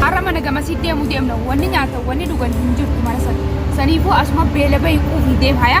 Har'a mana gamasii deemuu deemna. Wanni nyaatan wanni dhugan hin jirtu mana sana. Saniifuu asuma beela bahi quufii deemhaya.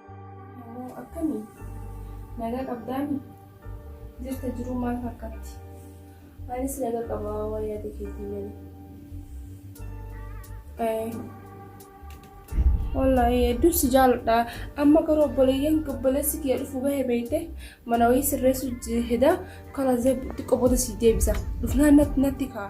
Moo akkami? Nagaa qabdaami? Jirta jiruu maal fakkaatti? Anis naga qaba waa yaada keetii malee. Eh, Wallaahi hedduun si jaaladha. Amma garuu obboleeyyan obboleessi kiyya dhufu bahe beekte mana wayii sirreessu heda karaa xiqqoo booda si deebisa. Dhufnaan natti natti ka'a.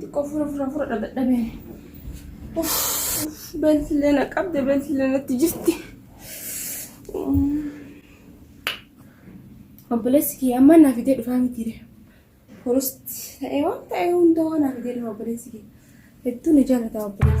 Xiqqoo fura fura fura dhadhabee. Beeltillee na qabde beeltillee natti jirti. Obboleessi kiyya amma naa fidee dhufaa mitiire. Furusti ta'ee waan ta'ee hundaa naa fidee dhufa obboleessi kiyya. Hedduu na jaallata obboleessi.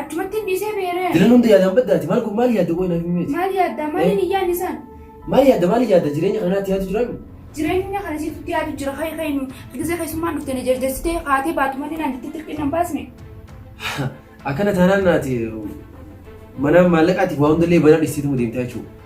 Achumatti hin dhiisee beeree. Jiran hunda yaadaan baddaati. Maal kun maal yaadda qoy naaf himi meeti? Maal yaadda? Maaliin hin yaadne isaan? Maal yaadda maal yaadda jireenya kana naatti yaadu jiraami? Jireenya kana sitti yaadu jira ka'e ka'e nu gisee keessummaan dhufte na jarjarsitee kaatee baatu malee naan itti tirqii nan baasne. Akkana taanaan naati manaan maallaqaatiif waa hundallee banaa dhiisteetuma deemtaa jechuudha.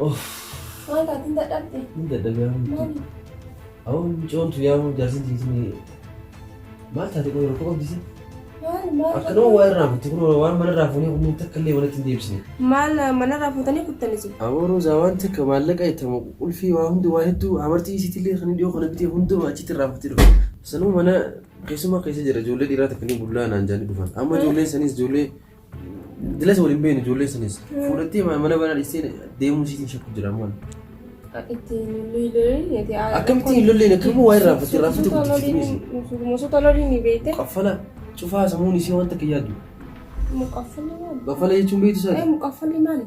Maal taate hin dadhabde? Hin dadhabee amma. Maali? Awwa mucoon tu yaa jaarsin tiisin maal taate kun rakkoo qabdisi? Maali maal? Akka nama waa irraa fuutte kun waan mana irraa fuunee kun takka illee manatti hin deebisne. Maal manarraa fuutanii kuttanis? Awwa roozaa waan takka maallaqa ittamu qulfii waa hundi waa hedduu amartii isiitillee kan dhiyoo kana bitee hundumaa achitti irraa fuutte dhufe. Sanuu mana keessumaa keessa jira ijoollee dhiiraa takka ni bullaa naan jaanii dhufan. Amma ijoolleen sanis ijoollee Dilas waliin beeknu ijoollee sanis. Fuudhattee mana banaa dhistee deemuu siitiin shakku jira ammoo. Itti lollee Akkamitti hin lolleen akkamuu waa irraa fakkii irraa fakkii guddifti dhiisi. Musoota lolii ni beekte. Qaffala cufaa samuun isii waan takka yaadu. Muqaffalli maali? Qaffala jechuun beektu isaati. Muqaffalli maali?